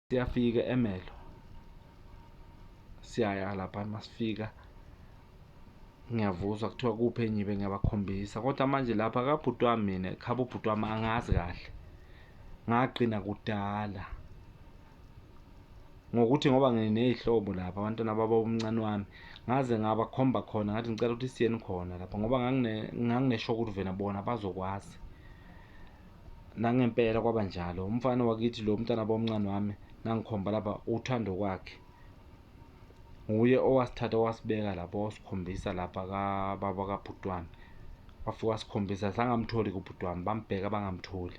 siyafika emelo siyaya lapha masifika ngiyavuzwa kuthiwa kuphi enyibe ngiyabakhombisa kodwa manje lapha kabhuti wami mina khaba ubhuti wami angazi kahle ngagcina kudala ngokuthi ngoba nginey'hlobo lapha abantwana baba umncane wami ngaze ngabakhomba khona ngathi ngicela ukuthi siyeni khona lapha ngoba nganginesho ukuthi vena bona bazokwazi Nangempela kwaba njalo. Umfana wakithi lo umntana bomncane wami nangikhomba lapha uthando kwakhe. Nguye owasithatha wasibeka lapha wasikhombisa lapha ka baba ka Bhutwami. Wafika wasikhombisa sangamtholi ku Bhutwami bambheka bangamtholi.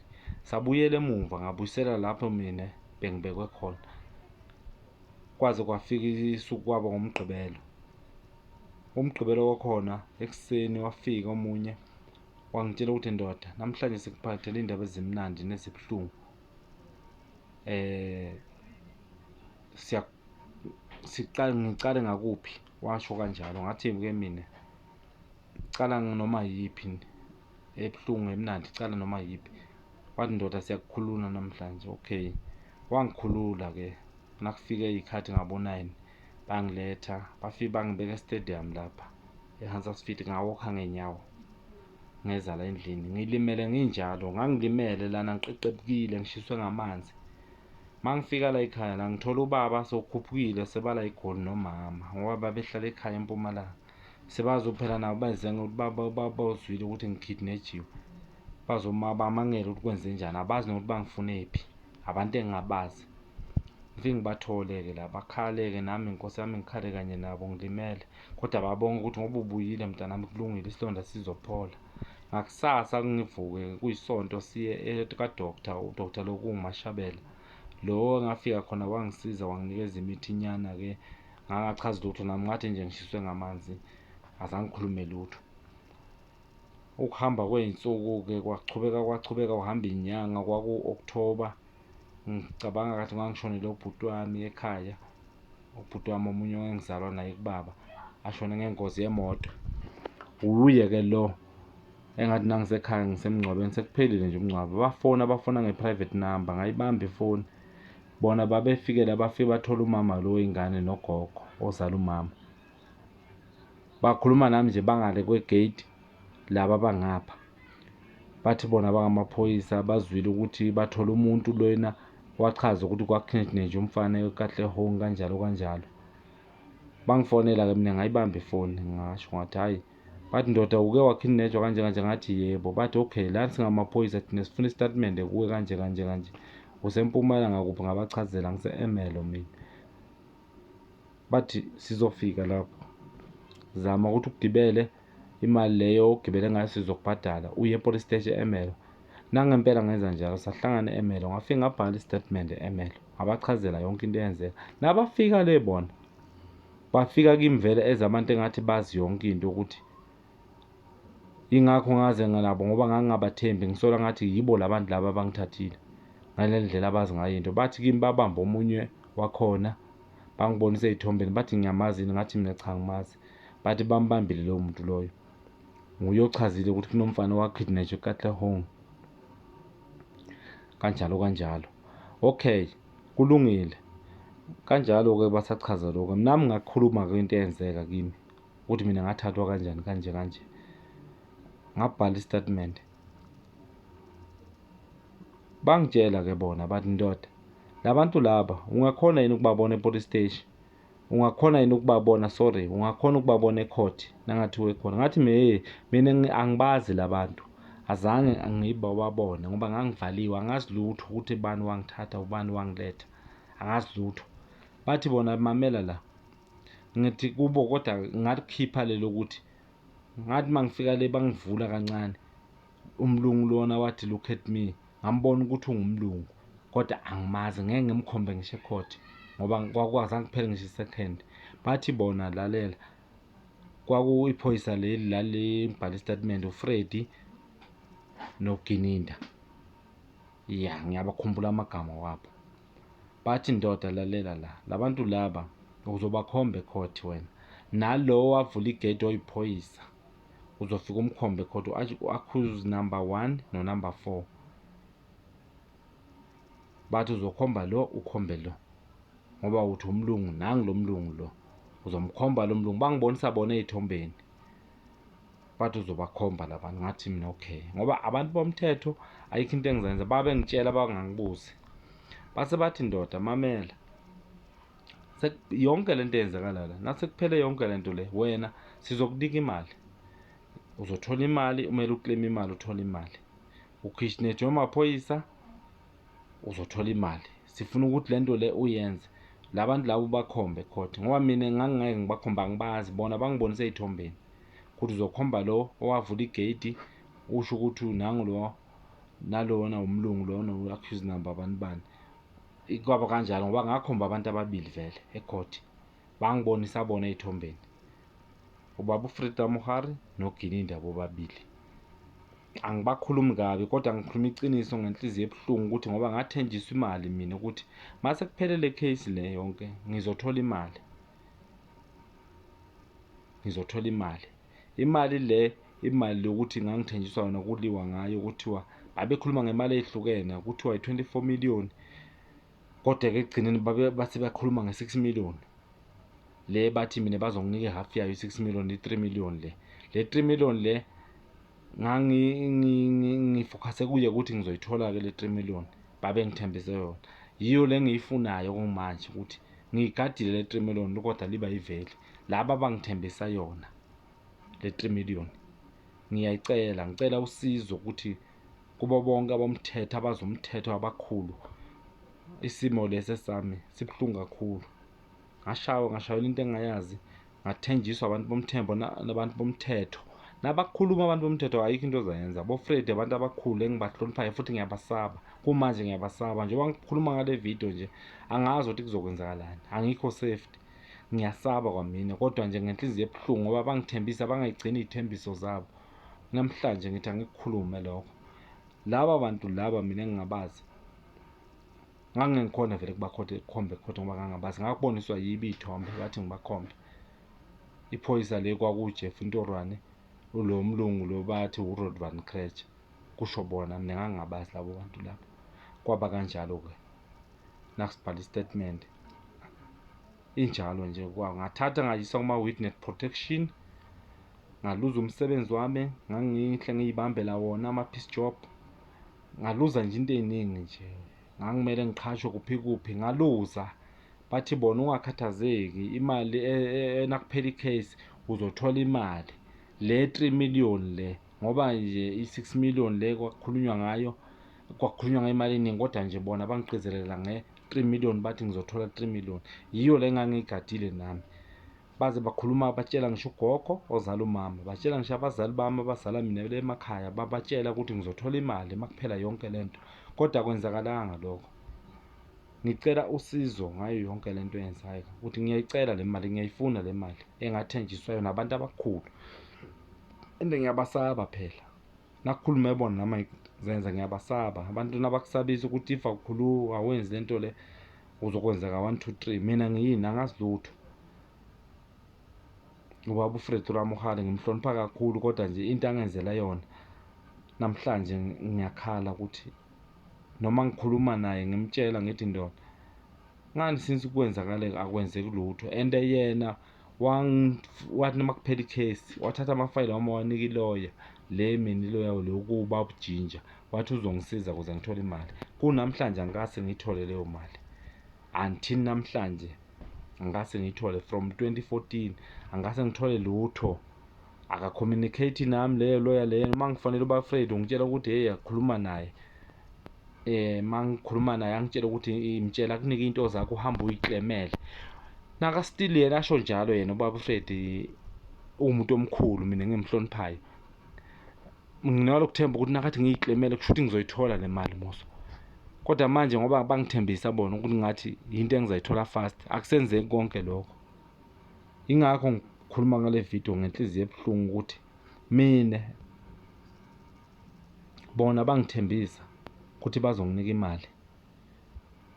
Sabuyela emuva ngabuyisela lapho mina bengibekwe khona. Kwaze kwafika isuku kwaba ngomgqibelo. Umgqibelo wakhona ekuseni wafika omunye wangitshela ukuthi ndoda namhlanje sikuphathele indaba ezimnandi nezibuhlungu eh siya siqale ngiqale ngakuphi washo kanjalo ngathi ke mina cala noma yiphi ebuhlungu emnandi cala noma yiphi wathi ndoda siyakukhulula namhlanje okay wangikhulula ke nakufike ikhathi ngabo 9 bangiletha bafike bangibeka estadium lapha ehansas fit ngawokha ngenyawo ngeza la endlini ngilimele nginjalo ngangilimele lana ngiqeqebukile ngishiswe ngamanzi uma ngifika la ekhaya la ngithola ubaba sokhuphukile sebala igoli nomama ngoba babehlala ekhaya empumalanga sebazophela nabo bazenga ukuthi baba baba uzwile ukuthi ngikidnejiwe bazoma bamangele ukuthi kwenze njani abazi nokuthi bangifunephi abantu engingabazi ngifike ngibathole-ke la bakhale-ke nami nkosi yami ngikhale kanye nabo ngilimele kodwa babonga ukuthi ngoba ubuyile mntanami kulungile isilonda sizophola ngakusasa kungivuke kuyisonto siye kadoktar udoktar lo kungumashabela lo ngafika khona wangisiza wanginikeza imithi inyana-ke ngangachazi lutho nami ngathi nje ngishiswe ngamanzi azangikhulume lutho Ukuhamba kwey'nsuku-ke kwachubeka kwachubeka kuhamba iy'nyanga kwaku-October. Ngicabanga kathi ngangishonele ubhuti wami ekhaya. Ubhuti wami omunye ongangizalwa naye kubaba ashone ngengozi yemoto. Wuye-ke lo engathi nangisekhaya ngisemngcwabeni sekuphelile nje umngcwabo. Bafona bafona nge-private number ngayibamba ifoni. Bona babefikela bafike bathola umama lo wey'ngane nogogo ozala umama. bakhuluma nami nje bangale kwegate laba bangapha bathi bona bangamaphoyisa bazwile ukuthi bathole umuntu lena wachaza ukuthi kwakhinethineje umfana kahle home kanjalo kanjalo bangifonela-ke mina ngayibamba ifoni ngasho ngathi hhayi bathi ndoda uke wakhinetshwa kanje kanje ngathi yebo bathi okay lani singamaphoyisa thina sifuna isitatimende kuwe kanje kanje kanje usempumalanga kuphi ngabachazela ngise-emelo mina bathi sizofika lapho zama ukuthi ugibele imali leyo ogibele ngayo sizokubhadala uye epolice stage emelo nangempela ngenza njalo sahlangana emelo ngafika ngabhala istatement emelo ngabachazela yonke into eyenzeka nabafika le bona bafika kimi vele ezabantu engathi bazi yonke into ukuthi Yingakho ngaze nganabo ngoba ngangingabathembi ngisola ngathi yibo labantu laba abangithathile ngalendlela abazi ngayo into bathi kimi babamba omunye wakhona bangibonisa ezithombeni bathi ngiyamazi ngathi mina cha ngimazi bathi bambambile lowo muntu loyo nguye ochazile ukuthi kunomfana wakidnatshwa eKatlehong kanjalo kanjalo okay kulungile kanjalo-ke basachaza lokho nami ngakhuluma-ke into eyenzeka kimi ukuthi mina ngathathwa kanjani kanje kanje ngabhala istatement bangitshela ke bona bathi ndoda labantu laba ungakhona yini ukubabona epolice station ungakhona yini ukubabona sorry ungakhona ukubabona ecourt nangathi wekhona ngathi meye mina angibazi labantu azange ngibababone ngoba ngangivaliwe angazi lutho ukuthi bani wangithatha ubani wangiletha angazi lutho bathi bona mamela la ngithi kubo kodwa ngalikhipha lelo ukuthi ngathi mangifika le bangivula kancane umlungu lona wathi look at me ngambona ukuthi ungumlungu kodwa angimazi ngeke ngimkhombe ngisho ecourt ngoba kwakwazange kuphele ngisho isecond bathi bona lalela kwakuyiphoyisa leli lalibhala isitatimende ufredi nogininda ya ngiyabakhumbula amagama wabo Bathi ndoda lalela la labantu laba uzobakhomba ecourt wena nalowo wavula igate oyiphoyisa uzofika umkhombe ecourt u-accuse number one no number four bathi uzokhomba lo ukhombe lo ngoba uthi umlungu nangu lo mlungu lo uzomkhomba lo mlungu bangibonisa bona ey'thombeni but uzobakhomba labantu ngathi mina okay ngoba abantu bomthetho ayikho into engizenza babengitshela bangangibuzi base bathi ndoda mamela yonke le nto eyenzakala la nasekuphele yonke le nto le wena sizokunika imali uzothola imali umele ukleme imali uthole imali ukhishinethwe amaphoyisa uzothola imali sifuna ukuthi le nto le uyenze labantu labo bakhombe court ngoba mina ngangingeke ngibakhombe angibazi bona bangibonise ey'thombeni ukuthi uzokhomba lo owavula igate usho ukuthi nangu lo nalona umlungu lona u-accuse number abantu bani kwaba kanjalo ngoba ngakhomba abantu ababili vele ecourt bangibonisa bona ey'thombeni ubaba ufrida muhari nogininda bobabili angibakhulumi kabi kodwa ngikhuluma iqiniso ngenhliziyo ebuhlungu ukuthi ngoba ngathenjiswa imali mina ukuthi mase kuphele le case le yonke ngizothola imali ngizothola imali imali le imali yokuthi ngangithenjiswa yona kuliwa ngayo kuthiwa babekhuluma ngemali ehlukene kuthiwa i-24 million kodwa ke ekugcineni bathi bakhuluma nge-6 million le bathi mina bazonginika ihalf yayo i-6 million i-3 million le le 3 million le ngangifokhase kuye ukuthi ngizoyithola-ke le 3 million babengithembise yona yiyo le ngiyifunayo kumanje ukuthi ngiyigadile le 3 million kodwa liba yiveli laba abangithembisa yona le 3 million ngiyayicela ngicela usizo ukuthi kubo bonke abomthetho abazomthetho abakhulu isimo lesi sami sibuhlungu kakhulu ngashaywa ngashayelwa into engayazi ngathenjiswa abantu bomthembo nabantu bomthetho nabakhuluma abantu bomthetho ayikho into ozayenza bofred abantu abakhulu engibahloniphayo futhi ngiyabasaba kumanje ngiyabasaba njengoba ngikhuluma ngale video nje angazi ukuthi kuzokwenzakalani angikho safety ngiyasaba kwamina kodwa nje ngenhliziyo ebuhlungu ngoba bangithembisa bangayigcini iy'thembiso zabo namhlanje ngithi angikukhulume lokho laba bantu laba mina ngingabazi ngangike ngikhona vele kubakhothe kukhombe khothe ngoba ngangabazi ngakuboniswa yibi ithombe bathi ngibakhombe iphoyisa le kwakujeff intorwane ulo mlungu lo bathi urod van crach kusho bona mina ngangingabazi labo bantu labo kwaba kanjalo-ke nakusibhala istatement injalo nje ngathatha ngayisa kuma-witness protection ngaluza umsebenzi wami ngangihle ngiyibambela wona ama-peace job ngaluza nje into ey'ningi nje ngangimele ngiqhashwe kuphi kuphi ngaluza bathi bona ungakhathazeki imali e- e- e- nakuphela i-case uzothola imali le 3 million le ngoba nje i-6 million le kwakhulunywa ngayo kwakhulunywa ngemali eningi kodwa nje bona bangigqizelela nge-3 million bathi ngizothola 3 million yiyo le ngangiyigadile nami baze bakhuluma batshela ngisho ugogo ozala umama batshela ngisho abazali bami abazala mina le emakhaya babatshela ukuthi ngizothola imali uma kuphela yonke le nto kodwa kwenzakalanga lokho ngicela usizo ngayo yonke le nto eyenzayo ukuthi ngiyayicela le mali ngiyayifuna le mali engathenjiswa yona abantu abakhulu and ngiyabasaba phela nakhuluma ebona nami zenza ngiyabasaba abantu nabakusabisa ukuthi if akukhulu awenzi lento le uzokwenzeka 1 2 3 mina ngiyini angazi lutho ubaba uFred Ramohale ngimhlonipha kakhulu kodwa nje into angenzela yona namhlanje ngiyakhala ukuthi noma ngikhuluma naye ngimtshela ngithi ndoda ngani since kwenzakale akwenzeki lutho and yena wathi noma kuphela ikhesi wathatha amafayile wami wawanika iloya le mina iloya le ukuba ubujinja wathi uzongisiza ukuze ngithole imali kunamhlanje angikase ngiyithole leyo mali until namhlanje angikase ngiyithole from 2014 angikase ngithole lutho akacommunicate nami leyo lawyer leyo uma ngifanele uba afraid ngitshela ukuthi hey akhuluma naye eh mangikhuluma naye angitshela ukuthi imtshela kunike into zakho uhamba uyiklemele naka still yena asho njalo yena ubaba Fred umuntu omkhulu mina ngimhloniphayo nginalo kuthemba ukuthi nakathi ngiyiklemele kusho ukuthi ngizoyithola le mali muso kodwa manje ngoba bangithembisa bona ukuthi ngathi yinto engizayithola fast akusenzeki konke lokho Ingakho ngikhuluma ngale video ngenhliziyo ebuhlungu ukuthi mina bona bangithembisa ukuthi bazonginika imali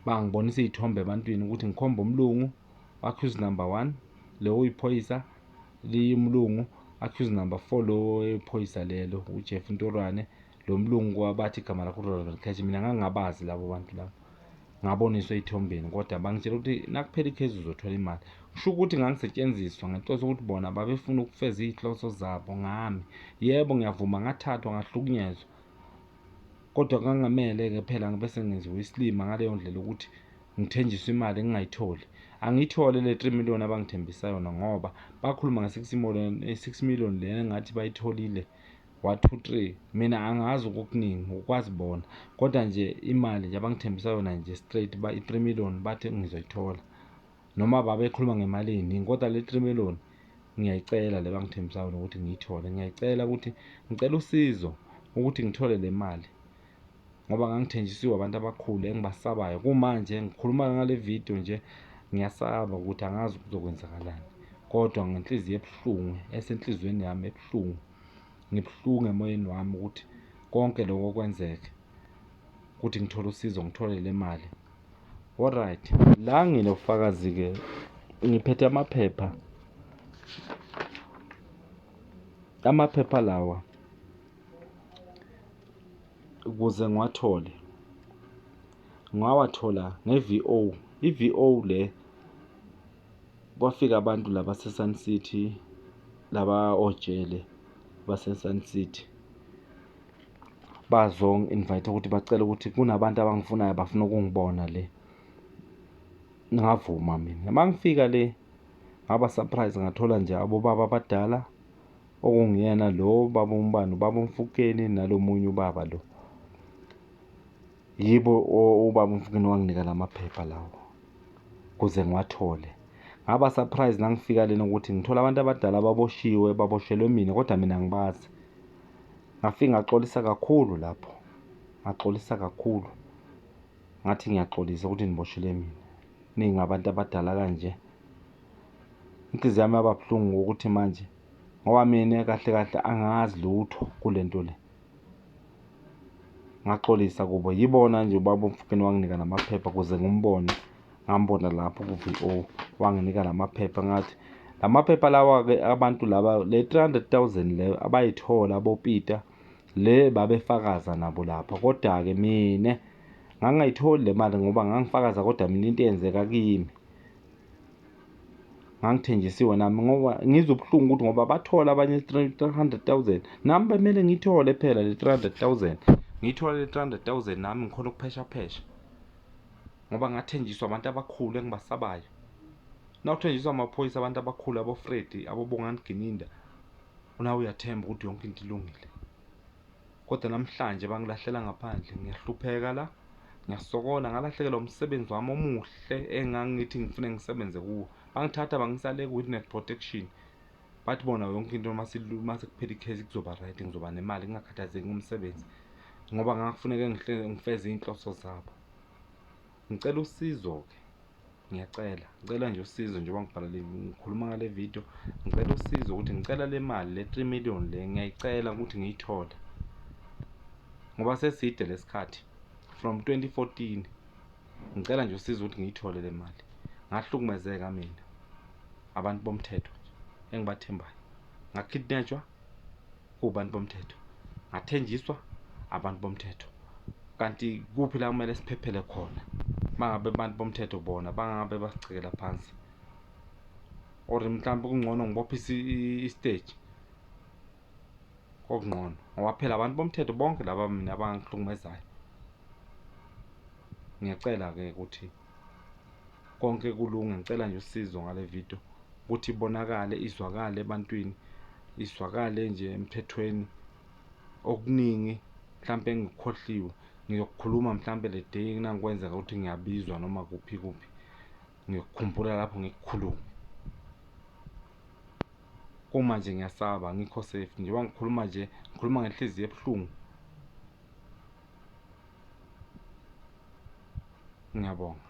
bangibonisa iy'thombe ebantwini ukuthi ngikhombe umlungu accuse number one lo uyiphoyisa liyumlungu accuse number four lo oyiphoyisa lelo ujeff ntorwane lo mlungu wabathi igama lakho uronald cash mina ngangingabazi labo bantu labo ngaboniswa ey'thombeni kodwa bangitshela ukuthi nakuphela ikhezi uzothola imali kusho ukuthi ngangisetshenziswa ngenhloso ukuthi bona babefuna ukufeza iy'hloso zabo ngami yebo ngiyavuma ngathathwa ngahlukunyezwa kodwa kangamele-ke phela ngibe sengenziwa isilima ngaleyo ndlela ukuthi ngithenjiswe imali ngingayitholi angiyithole le 3 million abangithembisa yona ngoba bakhuluma nge-6 million le ngathi bayitholile One two three mina angazi okukuningi ngokwazi bona kodwa nje imali nje abangithembisa yona nje straight ba i-three million bathi ngizoyithola noma babekhuluma ngemali eyiningi kodwa le three million ngiyayicela le bangithembisa yona ukuthi ngiyithole ngiyayicela ukuthi ngicela usizo ukuthi ngithole le mali ngoba ngangithenjisiwe abantu abakhulu engibasabayo kumanje ngikhuluma ngale video nje ngiyasaba ukuthi angazi kuzokwenzakalani kodwa ngenhliziyo ebuhlungu esenhliziyweni yami ebuhlungu ngibuhlungu emoyeni wami ukuthi konke lokho kwenzeke ukuthi ngithole usizo ngithole le mali alright la nginobufakazi-ke ngiphethe amaphepha amaphepha lawa ukuze ngiwathole ngawathola nge-VO i-VO le kwafika abantu la baseSun City, laba ojele baseSun City. Bazongi-invayitha ukuthi bacela ukuthi kunabantu abangifunayo bafuna ukungibona le. Ngavuma mina. Uma ngifika le, ngaba surprise ngathola nje abobaba abadala, okunguyena lo baba uMbani, ubaba uMfukeni nalo munye ubaba lo. Yibo ubaba umfukeni wanginika la maphepha lawo kuze ngiwathole ngaba surprise nangifika lena ukuthi ngithola abantu abadala baboshiwe baboshelwe mina kodwa mina ngibazi ngafika ngaxolisa kakhulu lapho ngaxolisa kakhulu ngathi ngiyaxolisa ukuthi niboshele mina ningabantu abadala kanje inhliziyo yami yaba buhlungu ukuthi manje ngoba mina kahle kahle angazi lutho kule nto le ngaxolisa kubo yibona nje ubaba omfukeni wanginika namaphepha kuze ngimbone ngambona lapho ku-VO wanginika namaphepha ngathi la maphepha lawa-ke abantu laba le 300,000 leyo abayithola abopita le babefakaza nabo lapha kodwa-ke mina ngangayitholi le mali ngoba ngangifakaza kodwa mina into eyenzeka kimi ngangithenjisiwe nami ngoba ngizwe ubuhlungu ukuthi ngoba bathola abanye 300000 nami bemele ngithole phela le 300000 ngithole le 300000 nami ngikhona ukuphesha phesha ngoba ngathenjiswa abantu abakhulu engibasabayo nawuthenjiswa amaphoyisa abantu abakhulu abofredi abobongani gininda unawe uyathemba ukuthi yonke into ilungile kodwa namhlanje bangilahlela ngaphandle ngiyahlupheka la ngiyasokola ngalahlekelwa umsebenzi wami omuhle engangithi ngifune ngisebenze kuwo bangithatha bangisale ku-witness protection bathi bona yonke into uma sekuphela ikhesi kuzoba right ngizoba nemali ngingakhathazeki ngomsebenzi ngoba ngakufuneke ngifeze iy'nhloso zabo Ngicela usizo-ke ngiyacela ngicela nje usizo njengoba ngibhala le ngikhuluma ngale video ngicela usizo ukuthi ngicela le mali le 3 million le ngiyayicela ukuthi ngiyithole ngoba seside lesikhathi from 2014 ngicela nje usizo ukuthi ngiyithole le mali ngahlukumezeka mina abantu bomthetho nje engibathembayo ngakidnetshwa Kubantu bomthetho. Ngathenjiswa abantu bomthetho. Kanti kuphi la kumele siphephele khona? Mangabe abantu bomthetho bona bangabe basigcikela phansi. Or mhlawumbe kungcono ngibophe istage. Kokungcono ngoba phela abantu bomthetho bonke laba mina abangihlukumezayo. Ngiyacela ke ukuthi konke kulunge ngicela nje usizo ngale video ukuthi ibonakale izwakale ebantwini izwakale nje emthethweni okuningi mhlampe engikhohliwe ngiyokukhuluma mhlampe le day kunangikwenzeka ukuthi ngiyabizwa noma kuphi kuphi ngiyokukhumbula lapho ngikukhulume uma nje ngiyasaba ngikho safe njengoba ngikhuluma nje ngikhuluma ngenhliziyo ebuhlungu Ngiyabonga.